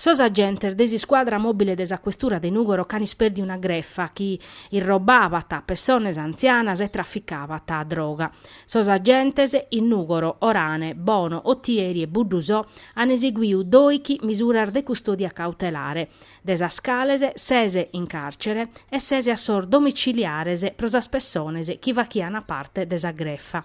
Sos agentes de s'iscuadra mòbile de sa questura de Nùgoro ch'ant ispèrdiu una grefa chi irrobabat pessones antzianas e traficabat droga. Sos agentes in Nùgoro, Orane, Bono, Otieri e Buddusò ant eseguiu dòichi misuras de custòdia cautelare. de sas cales ses in càrcere e ses a sos domiciliares pro sas pessones chi fachian parte de sa grefa.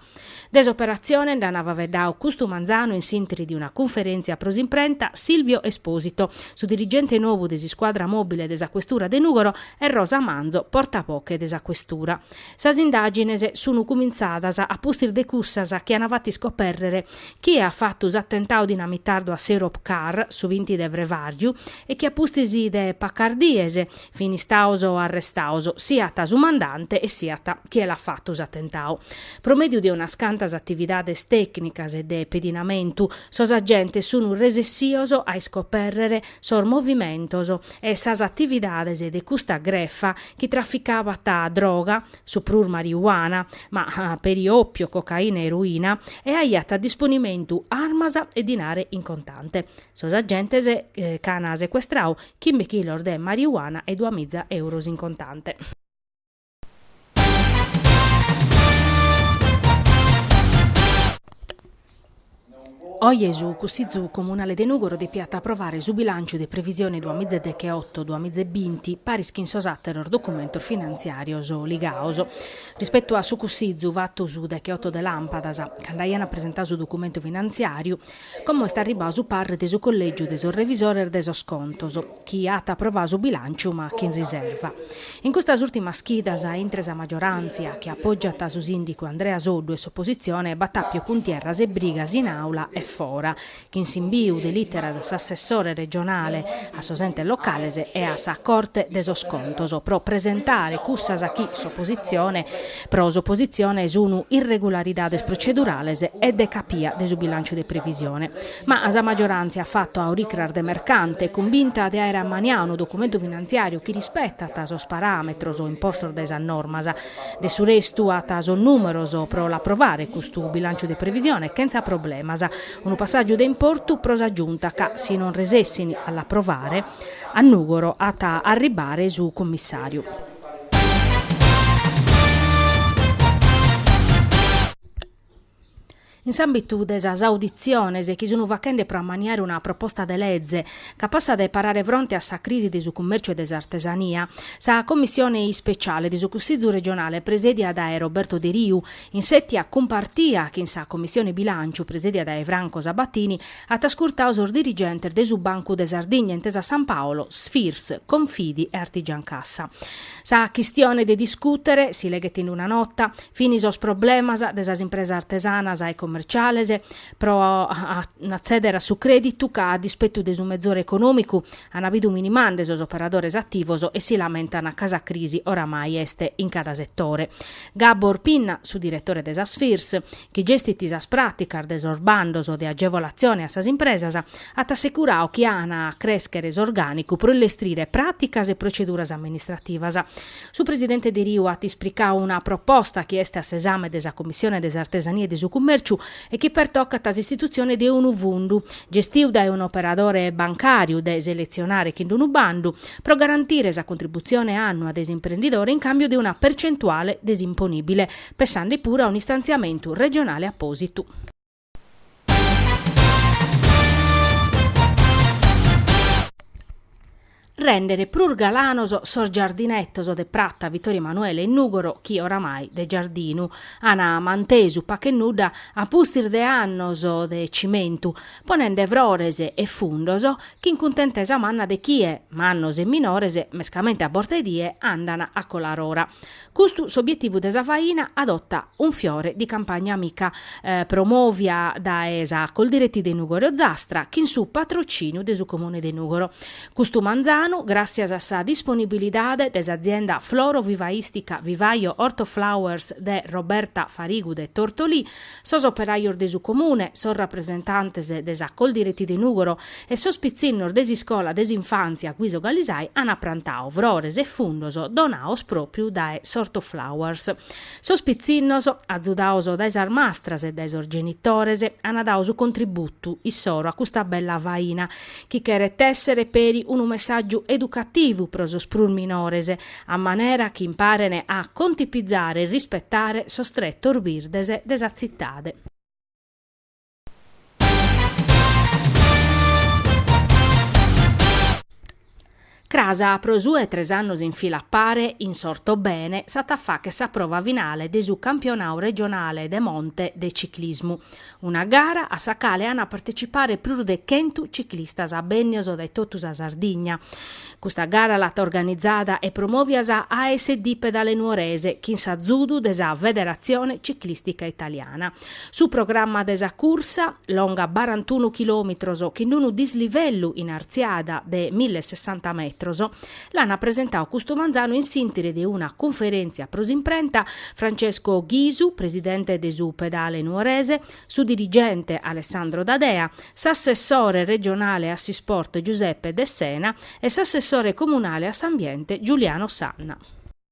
De s'operatzione nd'an faveddau custu manzanu in s'intri de una cunferèntzia pro s'imprenta Silvio Esposito, su dirigente nobu de s'iscuadra mòbile de sa questura de Nùgoro e Rosa Manzo, portaboche de sa questura. Sas indàgines sunu cumintzadas a pustis de cussas chi an fatu iscopèrrere chie at fatu s'atentau dinamitardu a s'Europcar su binti de frevàriu e chi a pustis de pacas dies fin istaos arrestaos siat su mandante e siat chie l'at fatu s'atentau. Pro mèdiu de unas cantas atividades tècnicas e de pedinamentu, sos agentes sunu resessios a iscopèrrere sos movimentos e sas atividades de custa grefa chi traficabat droga, su prus mariuana, ma peri òpio, cocaina e eroina, e aiat a disponimentu armas e dinare in contante. Sos agentes ch'an secuestrau chimbe chilos de mariuana e duamiza euros in contante. Oje su Cussitzu Comunale de Nùgoro depiat aprovare su bilànciu de previsione duamizedechioto duamizebinti, paris chin sos àteros documentos finantziàrios ligados. Rispetu a su Cussitzu fatu su dechioto de làmpadas, cando aian presentadu su documentu finantziàriu, como est arribadu su parre de su Collègiu de sos Revisores de sos Contos, chi at aprovau su bilànciu ma chin riserva. In custas ùltimas chidas, intre sa maggioràntzia, chi apògiat su sìndicu Andrea Soddu e s'opositzione, b'at àpiu cuntierras e brigas in àula e fora, chin s'imbiu de lìteras a s'assessore regionale a sos entes locales e a sa Corte de sos Contos pro presentare cussas chi s'opositzione pro s'opositzione sunu irregularidades procedurales e de capia de su bilànciu de previsione. Ma sa maggioràntzia at fatu a oricras de mercante, cunvinta de àere ammaniau unu documentu finantziàriu chi rispetat sos paràmetros impostos dae sas normas. De su restu at sos nùmeros pro l'aprovare custu bilànciu de previsione chentza problemas. Unu passàgiu de importu pro sa Giunta ca, si non resessin a l'aprovare, a Nùgoro at a arribare su cummissàriu. In s'àmbitu de sas auditziones chi sun fachende pro ammaniare una proposta de lege capassa de parare fronte a sa crisi de su cummèrciu e de s'artesania, sa commissione ispeciale de su Cussizu regionale presèdia dae Roberto Deriu, in sètia cumpartia chin sa commissione bilànciu presèdia dae Franco Sabatini, at ascurtadu sos dirigentes de su Bancu de Sardigna, Intesa San Paolo, Sfirs, Confidi e Artigiancassa. Sa chistione de discùtere, si leghet in una nota, Fini sos problemas de sas impresas artesanas e commerciales pro atzèdere a su crèditu ca a dispetu de su mezore econòmicu ana bidu minimande sos operadores ativos e si lamentana ca sa crisi oramai est in cada setore. Gabor Pinna, su diretore de sa Sfirs, chi gestit sas pràticas de sos bandos de agevolatzione a sas impresas, at assecurau chi ana a crèschere s'orgànicu pro illestrire pràticas e proceduras amministrativas Su presidente Deriu at ispricau una proposta chi est a s'esame de sa Commissione de s'Artesania e de su Cummèrciu e chi pertocat s'istitutzione de unu fundu, gestiu dae un'operadore bancàriu, de seletzionare chin d'unu bandu, pro garantire sa contributzione annua de s'imprendidore in càmbiu de una percentuale de s'imponìbile, pessande puru a un'istantziamentu regionale apòsitu. Rèndere prus galanos sos giardinetos de Prata Vittorio Emanuele in Nùgoro chi oramai de giardinu an mantesu pach'e nudda a pustis de annos de cimentu, ponende frores e fundos chi in cuntentesa manna de chie, mannos e minores, mescamente a borta 'e die, andan a colar'ora. Custu s'obietivu de sa faina Adotta un fiore di campagna amica, promòvia dae sa Coldiretti de Nùgoro-Ozastra chin su patrocìniu de su Comune de Nùgoro. Custu manzanu, gràssias a sa disponibilidade de s'azienda floro-vivaistica Vivaio Ortoflowers de Roberta Farigu de Tortolì, sos operajos de su Comune, sos rapresentantes de sa Coldiretti de Nùgoro e sos pitzinnos de s'iscola de s'infàntzia Guiso Galisai ant prantau frores e fundos donaos pròpiu dae s'Ortoflowers. Sos pitzinnos, azudaos dae sas mastras e dae sos genitores, ant dau su contributu issoro a custa bella faina, chi cheret èssere peri unu messàgiu educativu pro sos prus minores, a manera chi imparene a contipizare e rispetare sos tretos birdes de sa tzitade. Cras pro su 'e tres annos in fila a pare in s'Ortobene s'at a facher sa prova finale de su campionadu regionale de monte de ciclismu. Una gara a sa cale ant a partecipare prus de chentu ciclistas bènnios dae totu sa Sardigna. Custa gara l'at organizada e promòvia sa ASD Pedale Nuorese chin s'azudu de sa Federatzione Ciclìstica Italiana. Su programma de sa cursa, longa barantunu chilòmitros chin unu dislivellu in artziada de mille e sessanta metros, L'an presentau custu manzanu in s'intìrinu de una cunferèntzia pro s'imprenta, Francesco Ghisu, presidente de su Pedale Nuorese, su dirigente Alessandro D'Adea, s'assessore regionale a s'isport Giuseppe Dessena e s'assessore comunale a s'ambiente Giuliano Sanna.